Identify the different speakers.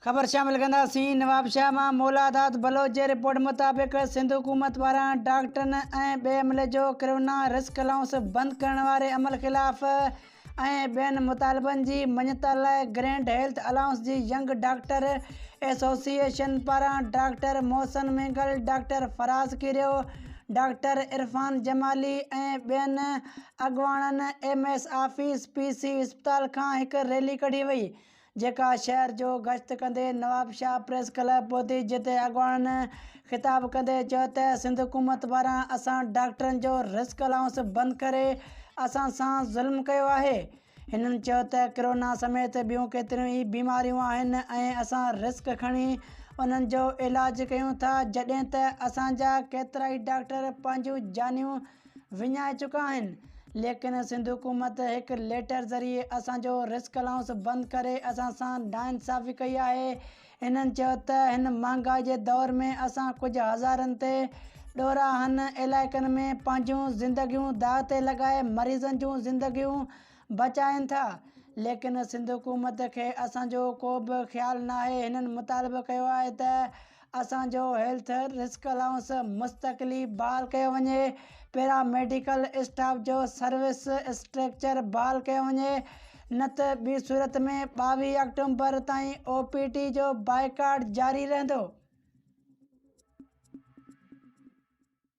Speaker 1: خبر شامل ڪنداسين نوابشاهه مان مولا داد بلوچ جي رپورٽ مطابق سنڌ حڪومت پاران ڊاڪٽرن ۽ ٻئي عملي جو ڪرونا رسڪ الائونس بند ڪرڻ واري عمل خلاف ۽ ٻين مطالبن جي مڃتا لاء گرينڊ هيلٿ الائونس جي ينگ ڊاڪٽر ايسوسيئيشن پاران doctor Mohsin Mengal, doctor Faraz Kerio, doctor Irfan Jamali ۽ ٻين اڳواڻن M S office, P C اسپتال کان هڪ ريلي ڪڍي وئي. جيڪا شهر جو گشت ڪندي نوابشاهه پريس ڪلب پهتي جتي اڳواڻن خطاب ڪندي چيو ته سنڌ حڪومت پاران اسان ڊاڪٽرن جو رسڪ الائونس بند ڪري اسان سان ظلم ڪيو آهي هنن چيو ته ڪرونا سميت ٻيون ڪيتريون ئي بيماريون آهن ۽ اسان رسڪ کڻي انهن جو علاج ڪيون ٿا جڏهن ته اسان جا ڪيترائي ڊاڪٽر پنهنجون جانيون وڃائي چڪا آهن ليڪن سنڌ حڪومت هڪ ليٽر ذريعي اسان جو رسڪ الائونس بند ڪري اسان سان ناانصافي ڪئي آهي هنن چيو ته هن مهانگائي جي دور ۾ اسان ڪجهه هزارن تي ڏورانهن علائقن ۾ پنهنجون زندگيون داء تي لڳائي مريضن جون زندگيون بچاين ٿا ليڪن سنڌ حڪومت کي اسان جو ڪو به خيال ناهي هنن مطالبو ڪيو آهي ته اسان جو هيلٿ رسڪ الائونس مستقلي بحال ڪيو وڃي پيراميڊيڪل اسٽاف جو سروس اسٽرڪچر بحال ڪيو وڃي نه ته ٻي صورت ۾ ٻاويهه آڪٽومبر تائين او پي ٽي جو بائيڪاٽ جاري رهندو